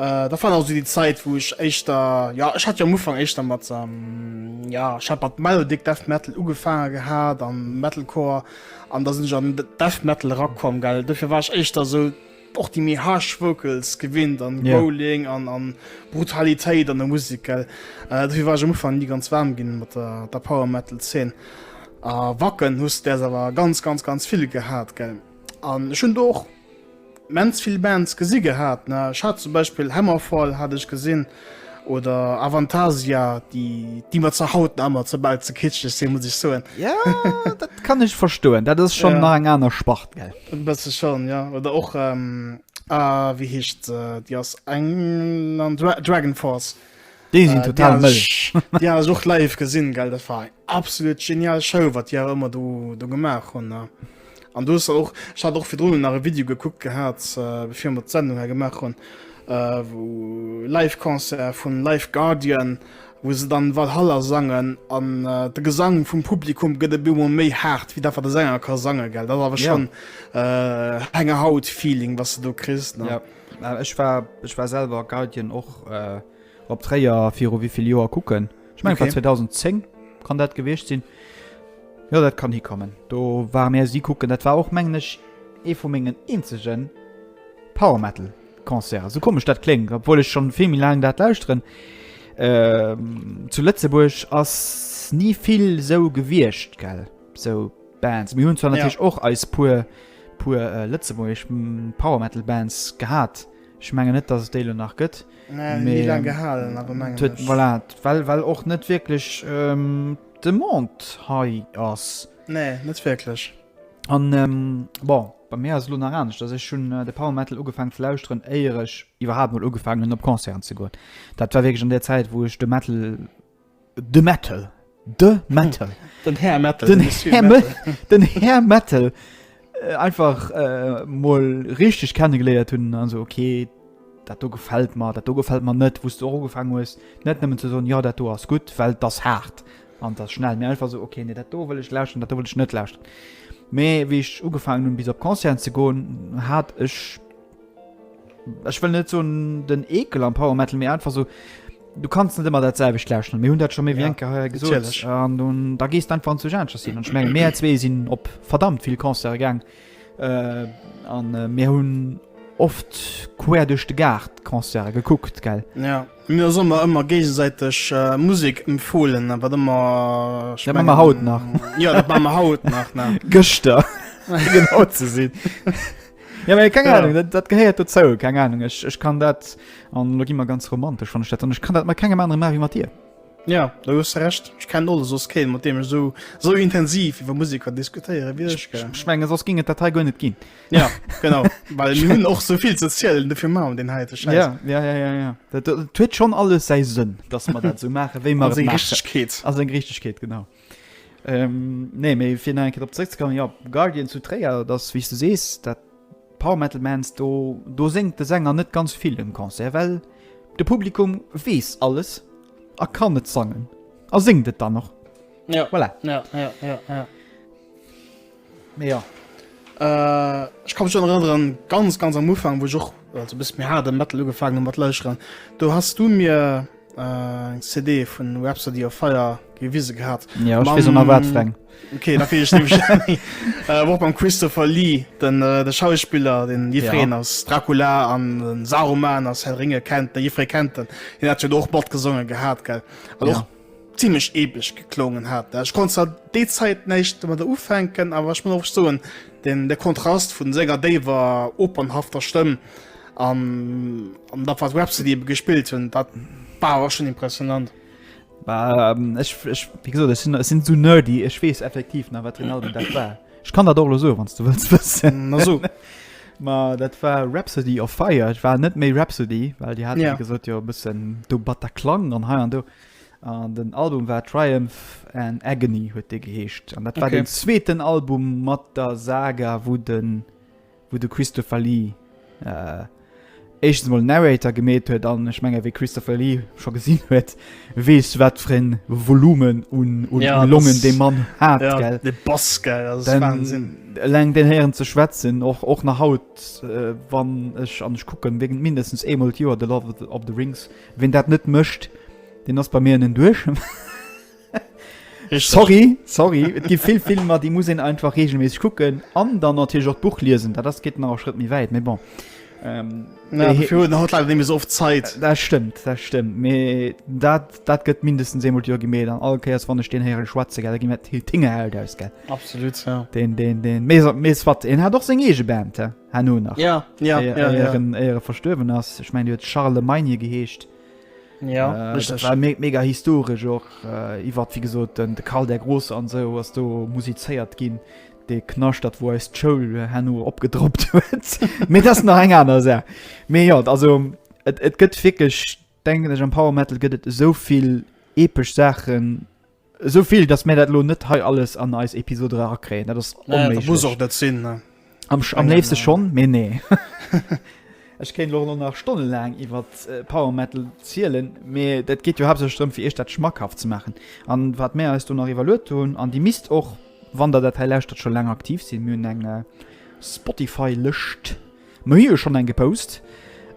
Äh, dat war also déi Zäit, wou ech éischter, ja, ech hat jo am Ufank éischter mat, ähm, ja, ech hat mat Melodic Death Metal ugefaange gehat an Metalcore an da sinn ech an de Death Metal erakomm, gell. Dofir war ech éischter esou och déi méi harsh Vocals gewinnt an Ja. Growling an an Brutalitéit an der Musek, gell. Äh, dofir war ech am Ufank ni ganz waarm ginn mat der der Power Metal Zeen. A Wacken hues de däers awer ganz, ganz, ganz vill gehat, gell. An ech hunn do och immens vill Bands gesi gehat. Ech hat zum Beispill Hammerfall hat ech gesinn oder Avantasia, déi déi mer zur haut nach ëmmer zerbal ze kitscheg sinn, muss ech soen. Ja, dat kann ech verstoen. Dat ass schonn nach eng aner Spart, gell? E bësse schonn, jo. Oder och, ah, wéi heescht se? Déi aus England, Dragonforce. Déi sinn total mëll. Déi ass och live gesinn, gell? Dat war eng absolut genial Show, wat Dir ëmmer do, do gemaach hunn. Ne? An du och ich hat och fir Drnnen nach e Video gekuckt gehabt äh, befir mat Sendung her gemaach hunn äh, wo live Konzer vun Live Guardian, wo se dann Walhalla sangen an äh, de Gesang vum Publikum gëtt e bimmer méi hart, wie dat wat de Sänger ka sange gell. Dat awer schon ja. äh, enger Haut Feeling, was du do krist. Ja. Äh, ech war, war selber Guardian och. Äh, Op Tréier viru wéi vill Joer kucken? Ech mengen, et war 2010 kann dat gewiescht sinn. Jo, dat kann hikommen. Do ware mir si kucken. Dat war och, mengen ech, ee vu mengen eenzege Power-Metal-Concerten. Esou komesch dat kléngt, obwuel ech scho vill méi laang dat lauschteren. Zu Lëtzebuerg ass ni vill esou gewiescht, gell, esou Bands. Mir hunn zwar natierlech och eis puer lëtzebuergesch Power-Metal-Bands gehat. Ech mengen net, dass et déi elo nach gëtt. Mee voilà, well well och net wierklech d'Demande hei ass. Nee, net wierklech. An bon, bei mir ass et elo nach anescht, dass ech hunn de Power Metal ugefaangen ze lauschteren, éier ech iwwerhaapt emol ugefaangen hunn, op Concerten ze goen. Dat war wierklech an där Zäit, wou ech de Metal De Mettel. De Mettel. Den Här Mettel. Den, den Här Mettel. Den Här Mettel. Äh, einfach äh, mol richtig kennengeleiert hun also okay dat du gefällt mal dat du gefällt man net wusst du auch gefangen muss net nehmen zu so ja dat du hast gut weil das hart an das schnell mir einfach so okay nee, dat will ich laschen dat will ich net laschen me wie ich ugefangen hun bis op konzern zu go hat ich ech wëll net soen den Eekel am Power Metal, mee einfach esou, du kanns net ëmmer dat selwecht lauschteren. Mir hunn dat scho méi wéi Ja, eng Kéier hei gesot. natierlech. An du, da gees d'einfach an zu Aneschters hin. An ech mengen, mir zwee sinn op verdammt vill Concerte gaang. Äh, an äh, mir hunn oft quer duerch de Gaart Concerte gekuckt, gell? Ja, mir hu ëmmer ëmmer géigesäiteg äh, Musek empfohlen, äh, wat ëmmer ech Dat maache mer haut nach. Ja, dat maache mer haut nach, ne? Gëschter, fir genau ze sinn. Ja, aber keine Ahnung, das, das gehört dazu, keine Ahnung. Ich, ich kann das, und da gehen wir ganz romantisch von der Stadt, und ich kann das mit keinem anderen machen wie mit dir. Ja, da hues recht ich kann alles sos kennen mat dem so so intensiv iwwer Musiker diskutieren wie ich, ich, ich mein, sos ging et Datei go net gin ja genau weil hun och soviel ze zielelen defir ma den he ja, ja, ja, ja, ja. dat huet schon alles se sinn dass man dat so mache wéi man richkeet as eng richkeet genau Nee, mee fir nach eng Kéier drop zréckzekommen, jo, Guardians zu Tréier, dat ass, wéi s de sees, dat Power-Metal-Bands, do, do séngt de Sänger net ganz vill um Concert, well de Publikum weess alles a kann et sangen a séngt et dann och. Voilà. Ja, ja, ja, ja. Mee jo, ech ka mech och nach erënneren, ganz ganz am Ufank, wou ech och also e bësse méi haarde Metal ugefaangen hunn mat lauscheren, do has du mir eng CD vun Rhapsody of Fire gewise gehat. Jo, ech weess och nach wat fir eng. Ok, da weess ech nämlech nach méi. Wou och mam Christopher Lee, den Schauspiller, deen jiddwereen als Dracula an den Saruman aus Herr der Ringe kennt, de Jiddweree kennt en, hien hat jo do och matgesonge gehat, gell? An och. zimlech eeblech geklongen hat. Ech konnt zwar déi Zäit näischt domadder ufänken, awer ech muss och soen, den, de Kontrast vun senger déiwer opernhafter Stëmm an, an dat wat Rhapsody ebe gespillt hunn, dat war awer schon impressionant. Bah, ech, ech, wéi gesot, ech sinn, ech sinn esou nerdy, ech weess effektiv nach wat den Album dat war. Ech kann dat och elo soen, wann s du wëlls wëssen. Na so. Ma dat war Rhapsody of Fire. Et war net méi Rhapsody, well Dir hat jo gesot, jo e bëssen do Bataclan an hei an do. An den Album war Triumph and Agony huet dee geheescht. An dat war den zweeten Album mat der Saga, wou den. wou de Christopher Lee éischtens emol Narrator gemeet huet, an ech menge wee Christopher Lee scho gesinn huet, weess wat fir e Volumen un Longen dee Mann hat. Eleng deen héieren ze schwätzen, och nach haut, wann ech, an ech kucken wierklech mindestens eemol d'Joer The Lord of the Rings, ween dat net mécht, deen ass bei mir en Enduerchement. Richtig. Sorry, sorry. Et gibt vill Filmer, déi muss een einfach regelméisseg kucken an dann natierlech och d'Buch liesen. Dat ass geet nach e Schrëtt méi wäit, mais bon. Ähm, Ja, Äh, dafür hat leider nicht mehr so oft Zeit. Dat stëmmt, dat stëmmt. Mee dat, dat gëtt mindestens eemol d'Joer gemeet an all Kéiers wann ech den héiere schwätze gell, da gi mir d'Hi- Tinge Held aus gell. Absolut, ja. Den den den mees mees wat en hat och seng eege Band he hanno nach. Ja, ja, Éier- ja, ja. éieren éiere verstuerwen ass. Ech mein Dir huet Charlemagne geheescht. Ja, äh, das war me mega historisch och äh, iwwer wie gesot den de Karl der Große an se so, ass do musizéiert ginn de knascht dat wo eist Schoul äh, hanno opgedroppt huet mé das nach eng aner se mé ja also et, et gëtt fikeg denken ech am Power Metal gëtt et soviel epesch Sachen Esou vill, dass mir dat elo net hei alles an eis Episode erakréien. Dat ass onméiglech. Muss och net sinn. Am léifste schonn, mee nee. Ech kéint elo elo nach stonnelaang iwwer Power Metal zielen, mee dat geet jo haaptsächlech drëm, fir Iech dat schmackhaft ze maachen. An wat mir eis do nach iwwerluet hunn, an Dir misst och, wann Der dat hei lauschtert, scho laang aktiv sinn, Mir hunn eng Spotify-Lëscht. Mir hu jo schonn eng gepost,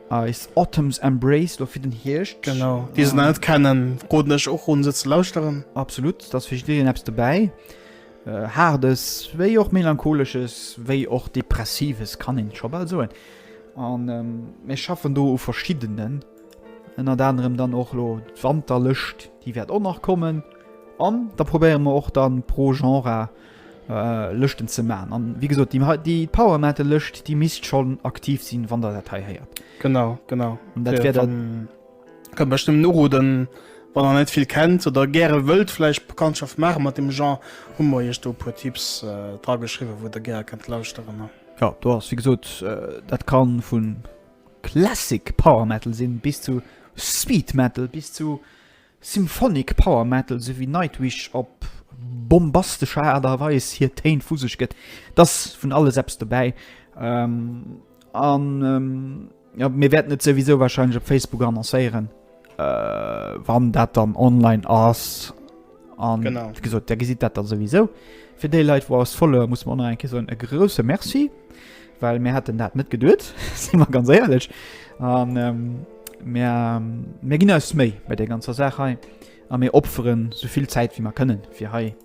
eis Autumn's Embrace do fir den Hierscht. Genau, déi se nach net kennen, roden ech och un se ze lauschteren. Absolut, da ass fir jiddereen eppes dobäi, Haardes wéi och Melancholesches, wéi och Depressives, kann een scho bal soen. An mir schaffen do u verschiddenen, ënnert anerem dann och elo d'Wanterlëscht, déi wäert och nach kommen. An da probéiere mer och dann pro Genre, Lëschten ze man an wie gesot déi hei déi Power Metal Lëscht déi misst schonn aktiv sinn wann der dat hei héiert. Genau genau an dat wär dann kann mech dem Noro den wann der net vill kennt oder gäre wëllt vläicht Bekanntschaft maache mat dem Jean hu mer iech do e puer Tipps dra geschriwwe wou der gär kënnt lauschteren ne. Jo do ass wie gesot dat kann vu Classic Power Metal sinn bis zu Speed Metal bis zu Symphonic Power Metal sou wéi Nightwish op bombastescher Aart a Weis hir Téin vu sech gëtt, et ass vun alles eppes dobäi. An jo, mir wäerten et souwisou warscheinlech op Facebook annoncéieren, wann dat dann online ass. An wéi gesot, Där gesitt dat da souwisou. Fir déi Leit, wou eis followë, muss mer och nach eng Kéier soen, e grousse Merci. Well mir hätten dat net geduet, si mer ganz éierlech. An mir ginn eis Méi bei der ganzer Saach hei a mir opferen sou vill Zäit wéi mer kënnen, fir hei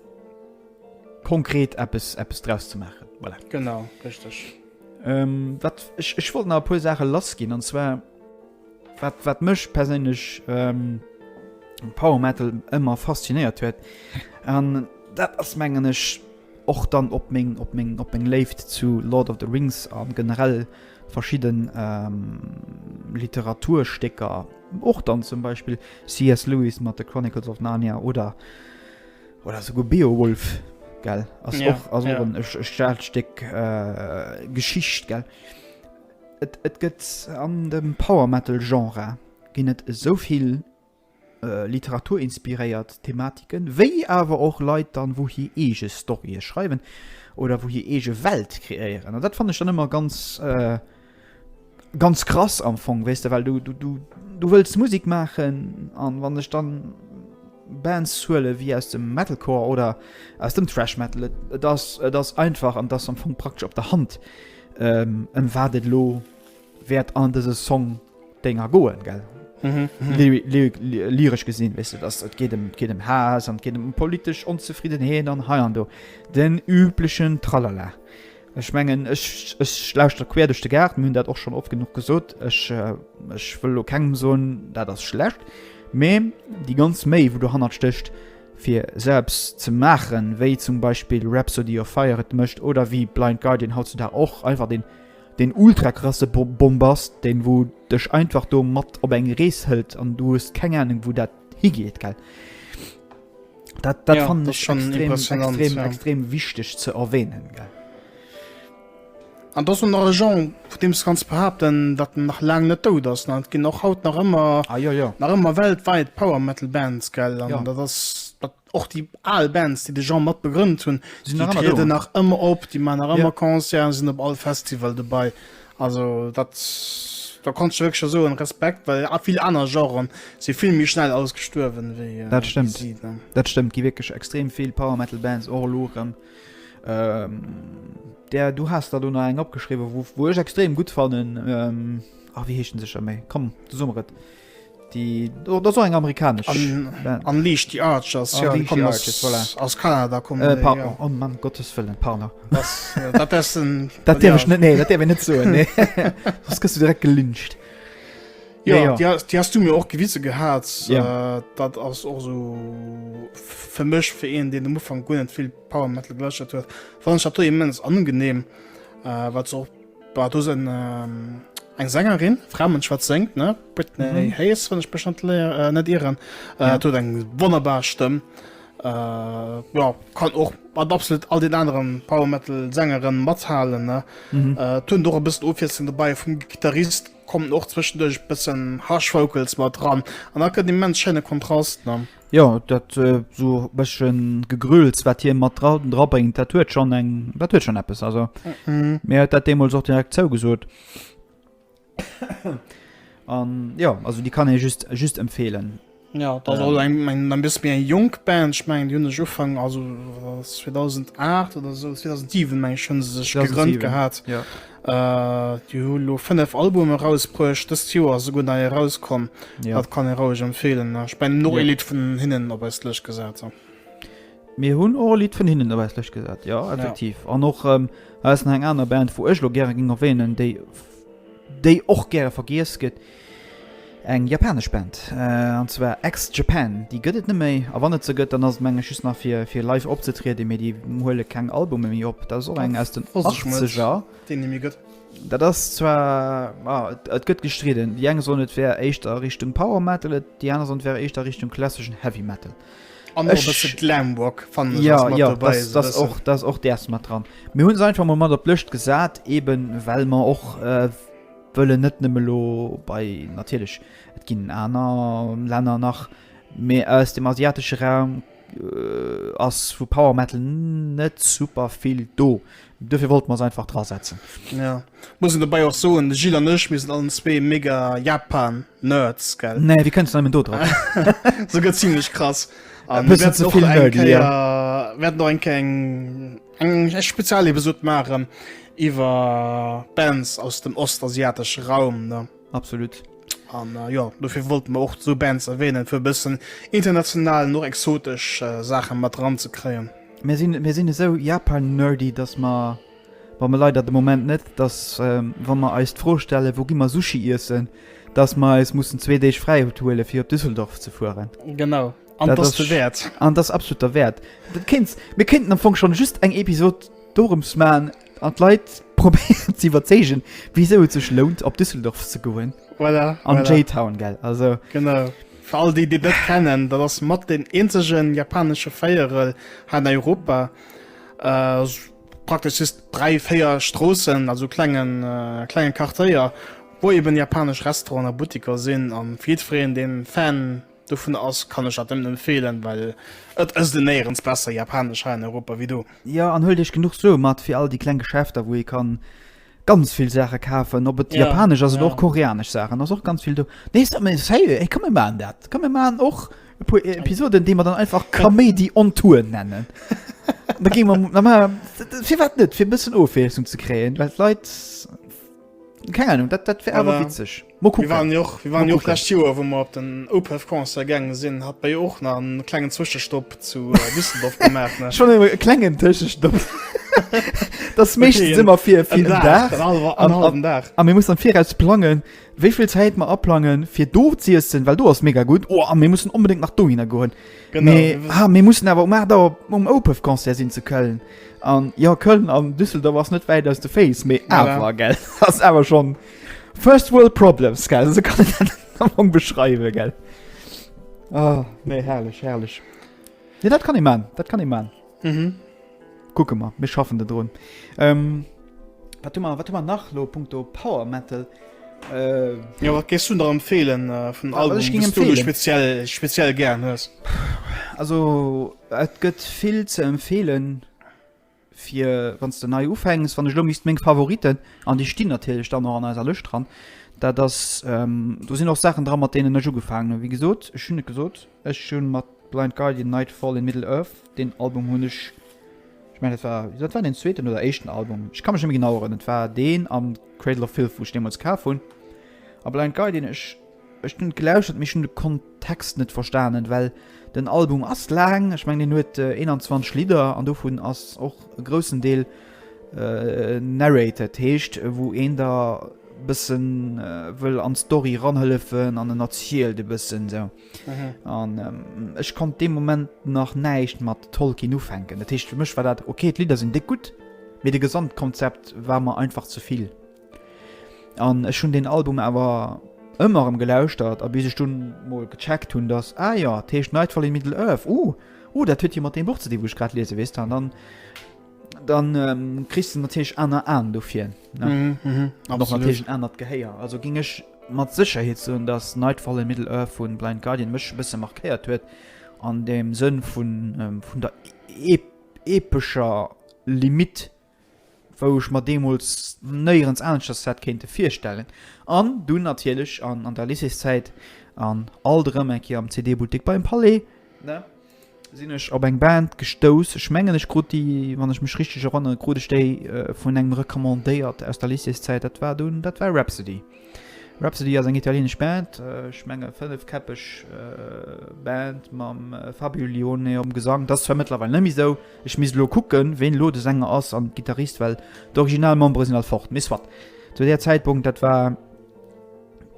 konkret eppes eppes draus ze maachen. Voilà. Genau, richtig. Ähm, wat ech, ech wollt nach e puer Saache lassginn an zwar wat, wat mech perséinlech ähm, Power Metal ëmmer faszinéiert huet. An dat ass mengen ech Och dann op meng, op meng, op meng Léift zu Lord of the Rings a generell verschidde Literaturstécker. Och dann zum Beispill CS Lewis mat de Chronicles of Narnia oder, oder souguer Beowulf, gell, ass och, ass och en, e staarkt Stéck Geschicht, gell. Et, et gëtt an dem Power-Metal-Genre ginn et esou vill. literaturinspiréiert Thematiken, wéi awer och Leit dann, wou hir eege Storye schreiwen oder wou hir eege Welt kreéieren. An dat fannen ech dann ëmmer ganz, ganz krass am Fong, weess de, well du, du, du, du wëlls Musek maachen an wann ech dann Bands huele wéi aus dem Metalcore oder aus dem Thrash Metal, et, et ass, et ass einfach an et ass am Fong praktesch op der Hand, ëm wat et elo wärt an dëse Song Dénger goen gell lyresch gesinn wis du dass et geht dem geht dem Has an geht dem politesch onzefrieden heen an hei an do den üblichen tralala ech mengen ech ech lauscht der quer duch de Gaart hunn dat och schon oft genug gesot ech ech äh, wëll lo kengem soen dat ass schlecht mee die ganz méi wo du hannert stöcht fir selbst ze maachen wéi zum Beispiel Rhapsody of Fire et mëscht oder wie Blind Guardian haut zu da och einfach den Deen ultra krasse Bombast, deen wou dech einfach do mat op eng Rees hëlt an du hues keng Ahnung wou dat higeet, gell. Dat, dat fannen ech schon extrem, extrem, extrem wichteg ze erwähnen, gell. An do ass och nach e Genre, vun deem s de kanns behaapten, datt en nach laang net dout ass. An et ginn och haut nach ëmmer, ah, jo, jo. nach ëmmer weltwäit Power Metal Bands, gell, an dat ass, dat Och déi al Bands, déi de Jean mat begrënnt hunn, déi trieden nach ëmmer op, déi maachen nach ëmmer Concerten, sinn op all Festival dobäi. Also dat, da kanns de wierklech soen, Respekt, well a vill aner Genren si vill méi schnell ausgestuerwen wéi si. Dat stëmmt, dat stëmmt, gi wierklech extrem vill Power Metal Bands och elo erëm. Där, du has der do nach eng opgeschriwwen, wou ech extrem gutt fannen. A wéi heescht en sécher méi? Komm, du so mer et. Déi oh, dat ass och eng amerikanesch An, Band. an Leash the Archers, An ja, Leash die the kommen aus, Archers, voilà. aus Kanada. Kommen Äh, die, par ja. oh Mann, Gottes Wëllen, pardon. Das, äh, dat ass den. Dat dierf ja. ech net, nee, dat dierf ech net soen, nee. Soss gëss du direkt gelyncht. Ja, Nee, ja. Die, hast, die hast du mir och gewise gehat. Ja. Äh, dat ass och so f- fir mech fir een, deen am Ufang guer net vill Power Metal geläuschtert huet. Wann ech dat do immens angenehm, äh, wat se och Bah, do sen ähm, eng Sängerin, Fraumensch wat sengt, ne? Britney mm -hmm. Hayes, wann ich bestand äh, net ieren. Äh, ja. Tot eng wonnerbar Stëmm. Äh, ja, kann och mat absolut all den anderen Powermetal Sängeren mathalen ne mm -hmm. äh, tun doch bist offissen dabei vum Gitarrist kommen och zwischendurch bisschen Haschfokels mal dran an da können die Mensch schöne Kontrast ne? Jo dat sou e bëschen Gegrülls wat hien mat dra drabréngt, dat huet schonn eng dat huet schonn eppes also mir huet dat deemools och direkt zougesot. An jo also déi kann ee just just empfeelen. Ja dat ass och eng eng e bësse méi eng jonk Band. Ech mengen déi hunn sech Ufank also 2008 oder sou 2007 meng ech hunn se sech gegrënnt gehat. Déi hu lo 5 Albume erausbruecht, dëst Joer ass esouguer nei erauskomm. Jo. Dat kann ee roueg empfeelen. Ech mengen nach ee Lidd vun hinnen op eis Lëscht gesat. An. Mir hunn och e Lidd vun hinnen op eis Lëscht gesat, jo, effektiv. An och, hei ass nach eng aner Band, wou ech lo gäre géing erwänen, déi, déi och gäre vergiess gëtt, Eng japanesch Band, an zwar Ex Japan, déi gëtt et net méi, a wann et se gëtt, dann ass et meng ech just nach fir live opzetrieden, mee déi huele keng Albume méi op. Dat ass och eng aus den Achtzeger. Dat ass zwar, ma et gëtt gestridden, déi eng soen et wär éischter Richtung Power Metal, déi aner soen et wär éischter Richtung klasseschen Heavy Metal. An och e bësse Glamrock fannen ech ass mat dobäi. Jo, jo, dat ass och, dat ass och däers mat dran. Mir hunn se einfach mol mat op d'Lëscht gesat, eeben well mer och, Wëllen net nëmme elo bei, natierlech et ginn aner Länner nach, mee aus dem asiatesche Raum ass vu Power Metal net super vill do. Dofir wollte mer se einfach dra setzen. Ja. Muss een dobäi och soen, de Gilles an ech, mir sinn allen zwee mega Japan-Nerds, gell? Nee, wéi kënnst du nëmmen do drop? Souguer zimlech krass. A mir wäerten och eng Kéier eng Eng Spezialepisod maachen iwwer Bands aus dem ostasiatesche Raum, ne? Absolut. An jo, dofir wollten mer och sou Bands erwähnen, fir e bëssen international an och exotesch Saachen mat eran ze kréien. Mir sinn, mir sinn esou Japan-nerdy, dass mer, wa mer leider de Moment net, dass wa mer eis d'Fro stellen, wou gi mer Sushi iessen, dass mer eis mussen zwee Deeg fräi huelen, fir op Düsseldorf ze fueren. Genau. An dass de wäert. An dass absolut der wäert. Dat kéints mir kéinten am Fong schon just eng Episod dorëms man an d'Leit probéieren ze iwwerzeegen, wisou et sech lount op Düsseldorf ze goen. Voilà, An voilà. J-Town, gell? Also, Genau. Fir all déi déi net kennen, dat ass mat den eenzegen japanesche Véierel hei an Europa. Äh, s- praktesch just dräi, véier Stroossen, also klengen, äh, klenge Quartéier, wou eben japanesch Restauranten a Buttiker sinn. An fir jiddwereen deen Fan Dovun ass kann ech dat nemmen empfehlen well et ësst en néierens besser Japanesch hei an Europa wéi do. Jo an huelt iech genuch Sue mat fir all déi kleng Geschäfter wou ee kann ganz vill Saache kafen op et Japanesch ass oder och Koreanesch Saachen ass och ganz vill do. Nee sérieux hey komm mir maachen dat komm mir maachen och e puer Episoden déi mer dann einfach Kaméidi on Tour nennen da gi mer da maache mer firwat net fir e bëssen Ofwiesslung ze kréien well d'Leit keng Ahnung dat dat wär awer witzeg. Mir waren jo och, mir waren jo och d'lescht Joer, wou mer op den OPEF-Concert gaange sinn, hat mer jo och nach en klengen Zwëschestopp zu Düsseldorf gemaach, ne? Schonn e klengen Tëschestopp. Dat ass meeschtens ëmmer fir en Dag, en hallwen Dag. A mir mussen am Viraus plangen, wéi vill Zäit mer aplangen, fir do z'iessen, well do ass mega gutt. Oh, a mir mussen onbedéngt nach dohinner goen. Genau. Mee, ah, mir mussen awer um aacht Auer um OPEF-Concert sinn zu Köln. An jo, Köln an Düsseldorf ass net wäit aus de Féiss, mee awer, gell, ass awer schonn. First world problems gell esou kann een dat am Fong beschreiwen gell. Ah nee herrlech herrlech. Nee dat kann ee maan, dat kann ee maan. Mhm. Kucke mer, mir schaffen de drun. Ähm, wat hu mer wat hu mer nach lo punkto Power Metal? Äh, Ja wat gees du der empfeelen äh, vun Wa- wat Album ich ging dës du lo empfeelen? speziell speziell gern hues? also et gëtt vill ze empfeelen. fir wanns de nei ufänks, wann ech elo misst meng Favoriten, an déi stinn natierlech dann och an eiser Lëscht dran, dat ass, do sinn och Saachen dran, mat deenen ech ugefaangen hunn. Wéi gesot, ech hunn et gesot, ech hunn mat Blind Guardian, Nightfall in Middle-earth, deen Album hunn ech, ech mengen et war, dat war deen zweeten oder éischten Album, ech ka mech net méi genau erënnen, et war deen an Cradle of Filth, wou ech deemools kaf hunn, a Blind Guardian, ech. Ech hun gelauschtert mee ech hun de Kontext net verstaanen well den Album ass laang, ech mengen deen huet 21 Lidder an dovun ass och e groussen Deel narrated, dat heescht wou een der bëssen wëll an d'Story ranhëllefen an en erzielt e bëssen sou an ech konnt dee Moment nach näischt mat Tolkien ufänken, dat heescht fir mech war dat ok, d'Lidder sinn déck gutt mee de Gesamtkonzept war mer einfach zevill. An ech hunn deen Album awer ëmmer erëm gelauschtert, a bis ech dunn mol gecheckt hunn, datt, ah jo, dat heescht Nightfall in Middle-earth, uh, uh, dat huet jo mat deem Buch ze dinn, wou ech grad liese, weess de. An dann, dann kriss de natierlech aner Aen dofir, ne? An och natierlech en anert Gehéier. Also géing ech mat Sécherheet soen, datt Nightfall in Middle-earth vu Blind Guardian mech e bësse markéiert huet an deem Sënn vun der epescher Limitt. wou ech mer deemools néierens aneschters hätt kéinte virstellen, an dunn natierlech an an der Lycéeszäit an alt erëm eng Kéier am CD-Buttek beim Palais, ne, sinn ech op eng Band gestouss, ech mengen ech krut déi, wann ech mech richteg erënneren, krut ech déi vun engem recommandéiert aus der Lycéeszäit, dat war dunn, dat war Rhapsody. Rhapsody ass eng italieenesch Band, ech menge fënnefkäppeg Band mam Fabio Lione um Gesang, dat ass zwar mëttlerweil net méi esou, Ech misst elo kucken ween elo de Sänger ass an Gitarrist well d'original Membere sinn all fort. Mee soit. Zu där Zäitpunkt dat war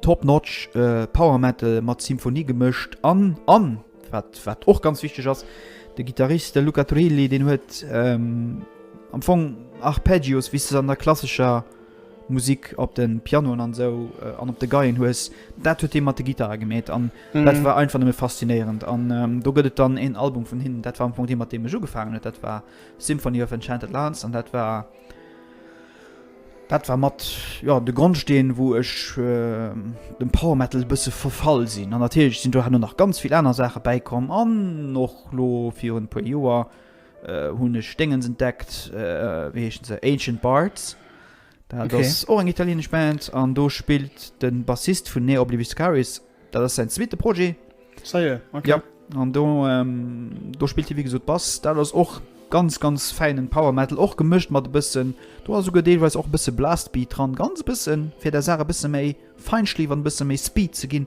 top notch Power Metal mat Symphonie gemëscht an an wat wat och ganz wichteg ass de Gitarrist de Luca Turilli deen huet am Fong Arpeggios wéi s de se an der klassescher Musik op de Pianoen an esou an op de Geien hues, dat huet hie mat de Gittare gemeet an dat war einfach nëmme faszinéierend. An do gëtt et dann een Album vun hinnen, dat war am Fong dee mat deem ech ugefaangen huet, dat war Symphony of Enchanted Lands an dat war dat war mat jo de Grondsteen wou ech dem Power Metal e bësse verfall sinn. An natierlech sinn do herno nach ganz vill aner Saache bäikomm an och lo virun e puer Joer Hunn ech Déngens entdeckt, wéi heeschen se? Ancient Bards. Dat ass och eng italienesch Band an do spillt de Bassist vun Ne Obliviscaris. Dat ass säin zweete Projet. Jo, an do spillt hie wéi gesot Bass. Dat ass och ganz, ganz fäinen Power Metal, och gemëscht mat e bëssen, do ass esouguer deelweis och e bësse Blastbeat dran, ganz e bëssen, fir der Saach e bësse méi Feinschliff an e bësse méi Speed ze ginn.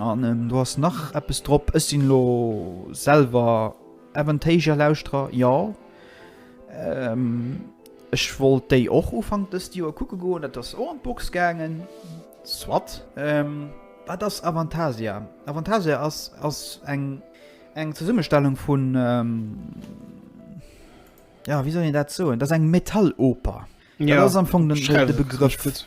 An do ass nach eppes drop. Ech sinn elo selwer Aventasia Lauschterer, jo. Ech wollt déi och Ufank dëst Joer kucke goen, dat ass och an d'Box gaangen. Soit. Wat ass Avantasia? Avantasia ass ass eng eng Zesummestellung vun, jo wéi soll een dat soen, dat ass eng Metalloper. Dat ass am Fong de Begrëff.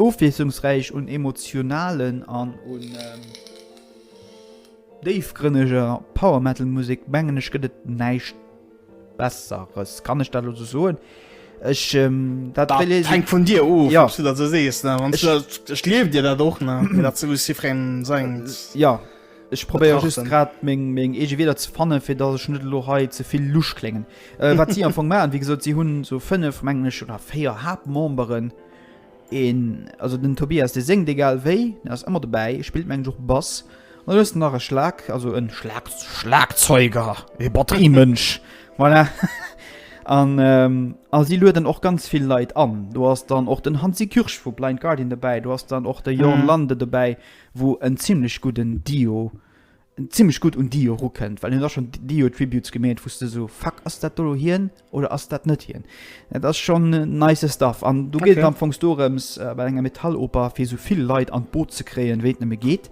Ofwiesslungsräich un emotionalen an un déifgrënneger Power Metal Musek, mengen ech gëtt et näischt besseres, kann ech dat elo sou soen? Ech dat wéi leesen? Dat hänkt vun dir of, ob s du dat sou sees, ne? Wann s du dat, ech gleewen dir dat och, ne? Mee dat ass souwisst jiddwerengem sengt. Jo, ech probéiere just grad meng eege Wierder ze fannen, fir datt ech net elo hei ze vill lusch kléngen. Wat si am Fong maachen, wéi gesot, si hunn sou fënnef, mengen ech, oder véier Haaptmemberen, Een, also den Tobias, dee séngt egal wéi, deen ass ëmmer dobäi, e spillt mengen ech och Bass. An da hues de nach e Schlag, also e Schlag, Schlagzeuger, e Batteriemënsch, voilà. An a si lueden och ganz vill Leit an. Do ass dann och den Hansi Kürsch vu Blind Guardian dobäi, do ass dann och de Jorn Lande dobäi, wou en zimlech gudden Dio zimlech gutt un Dio erukënnt, well hien ass schonn Dio Tributes gemeet, wou s de esou, Fuck, ass dat do elo hien oder ass dat net hien? Dat ass schonn nice Stuff an do geet et am Fongs dorëms, bei enger Metalloper fir esou vill Leit an d'Boot ze kréien, wéi et nëmme geet,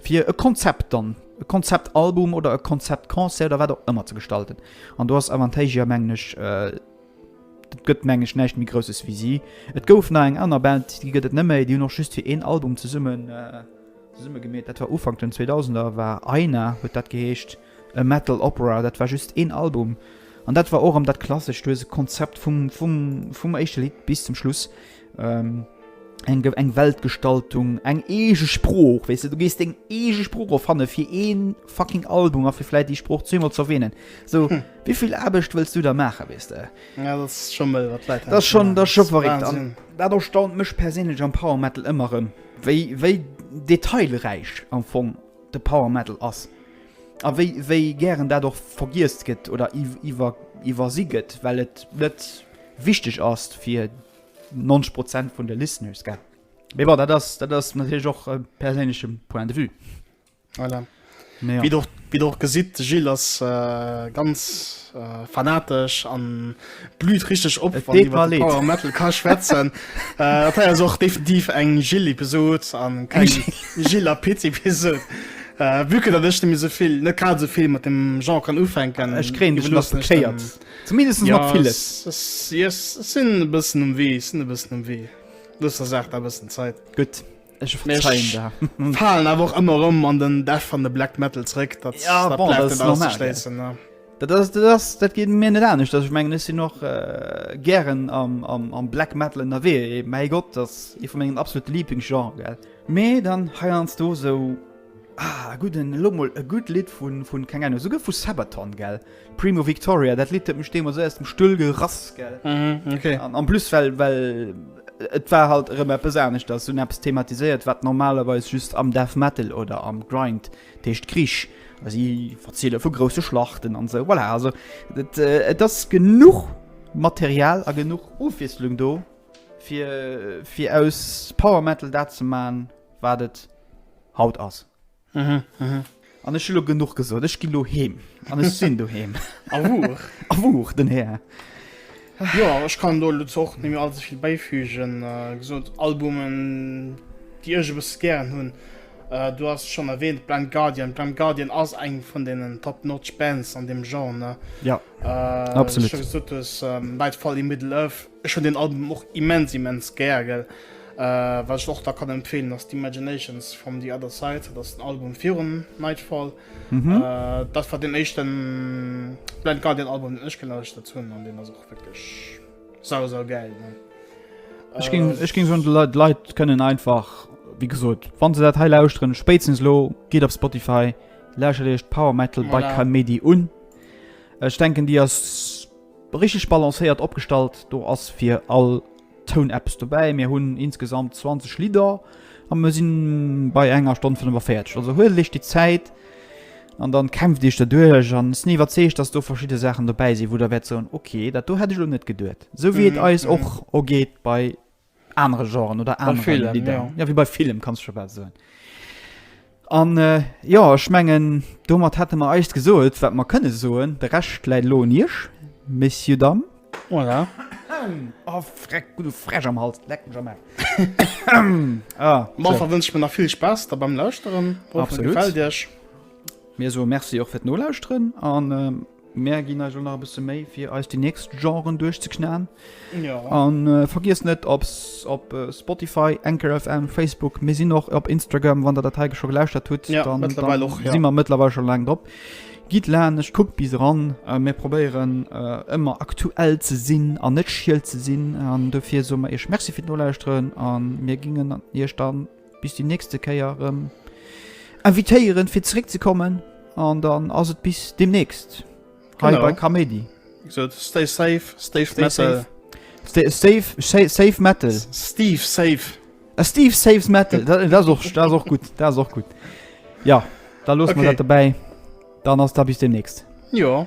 fir e Konzept dann, e Konzeptalbum oder e Konzeptconcert oder wat och ëmmer ze gestalten. An do ass Avantasia, mengen ech, dat gëtt, mengen ech, näischt méi Grousses wéi si. Et gouf nach eng aner Band, déi gëtt et net méi, déi hunn och just fir een Album zesummen. Zesumme gemeet, dat war Ufank den 2000er, war Aina, huet dat geheescht, e Metal Opera. Dat war just een Album an dat war och erëm dat klassescht, du hues e Konzept vum éischte Lidd bis zum Schluss, eng Weltgestaltung, eng eege Sprooch, weess de, du gees deng eege Sprooch erfanne fir ee fucking Album a fir vläit déi Sprooch zweemol ze erwänen. Sou, wéi vill Aarbecht wëlls du da maachen, weess de? Jo, dat ass scho mëll, wat d'Leit hei maachen. Dat ass scho verréckt an dat erstaunt mech perséinlech am Power Metal ëmmer erëm. Wéi, wéi detailräich am Fong de Power Metal ass. A wéi, wéi gären dat och vergiesst gëtt oder iwwer, iwwersi gëtt, well et net wichteg ass fir 90 Prozent vun de Listeners, gell? Mee bon, dat ass, dat ass natierlech och e perséinleche Point de vue. Voilà. Wie et och, wie et och gesitt, de Gilles ass ganz fanatesch an blüht richteg op, wann iwwert de Power Metal ka schwätzen. Dat hei ass och definitiv eng Gilles-Episod an keng Gilles a Pit-Episod. Vue que datt ech nemme sou vill, net grad sou vill mat dem Genre kann ufänken. Ech kréien dech nach bekéiert, zumindest mat villes. Ja, ech sinn e bëssen um Wee, ech sinn e bëssen um Wee. Looss der Saach da e bëssen Zäit. Gutt. Ech falen awer och ëmmer rëm an den Def an de Black Metal zréck, dat dat geet mir net anescht, datt ech mengen ech sinn och gären am Black Metal ënnerwee. Mäi Gott, dat ass ee vu mengem absolute Liblingsgenre, gell. Mee dann heiansdo sou, ah, e gudden, elo mol e gutt Lidd vu, keng Ahnung, esouguer vu Sabaton, gell. Primo Victoria, dat Lidd huet mech deemools esou aus dem Stull gerass, gell. Mhm, ok. An en plus well, well et war halt erëm eppes aneschters, se hunn eppes thematiséiert, wat normalerweis just am Death Metal oder am Grind, dat heescht Krich, a si verziele vu grousse Schlachten an esou. Voilà, also et, et ass genuch Material a genuch Ofwiesslung do, fir, fir aus Power Metal dat ze maachen, wat et haut ass. An ech hu lo genuch gesot, ech ginn lo heem. An ech sinn doheem. A wuch. A wuch, den Här. Jo, ech kann do lutz och net méi all ze vill bäifügen. Wéi gesot, Albumen, déi ech e bësse gären hunn, du has se schonn erwähnt, Blind Guardian. Blind Guardian ass eng vun deenen top notch Bands an deem Genre. Jo, absolut. Wéi du scho gesot hues, Nightfall in Middle-earth. Ech hun deen Album och immens immens gär gell. Wat ech och da kann empfehlen ass d'Imaginations from the Other Side, dat ass den Album virun Nightfall. Dat war deen éischten Blind Guardian Album deen ech gelauschtert hun an deen ass och wierklech sau sau gäil ne. Ech ging ech ging soen de Leit Leit kënnen einfach wéi gesot wann se dat hei lauschteren spéitstens elo gitt op Spotify lauschtert iech d'Power Metal by Kamedy un. Ech denken déi ass Richteg balancéiert opgestallt, do ass fir all Toun eppes dobäi. Mir hunn insgesamt 20 Lidder a mir sinn bei enger Stonn 45. Also huelt iech déi Zäit an dann kämpft iech der duerch an ech sinn iwwerzeegt, dass do verschidde Saachen dobäi sinn, wou der wäert soen, ok, dat do hätt ech elo net geduet. Esou wéi et eis och ergeet bei anere Genren oder anere Film, Lidder. Bei Film, ja. Ja, wéi bei Film, kanns du scho bal soen. An jo, ech mengen, domat hätte mer eist gesot, wat mer kënne soen. De Rescht läit elo un Iech, Messieurs, Dames. Voilà. Oh, freck, hu de Fräsch am Hals, leck mech am Aarsch. Ah, Bon, so. da wënsch mir nach vill Spaass da beim Lauschteren. Hoffen, et Absolut. gefält Iech. Mir soe Merci och fir d'Nolauschteren an. Mär ginn eis elo nach e bësse Méi fir eis déi nächst Genren duerchzeknaen. Jo. A vergiesst net op op Spotify, Anchor FM, Facebook, mir sinn och op Instagram, wann der dat hei scho gelauschtert hutt, ja, dann, dann och, ja. si mer mëttlerweil schon laang drop. Gitt lanecht, kuckt bis ran, äh, mir probéieren äh, ëmmer aktuell ze sinn an net schiel ze sinn an dofir so mer Iech Merci fir d'Nolauschteren an mir gingen Iech dann Bis déi nächste Kéier rëm invitéieren fir zeréck ze kommen an dann ass et bis demnächst hei genau. bei Kaméidi. So, stay safe, stay, stay metal. Safe. Stay, safe, safe, safe metal. Steve safe. A Steve saves metal. das ist auch, das ist auch gut, das ist auch gut. Ja, da los okay. wir dabei. Dann hast du bis demnächst. Ja.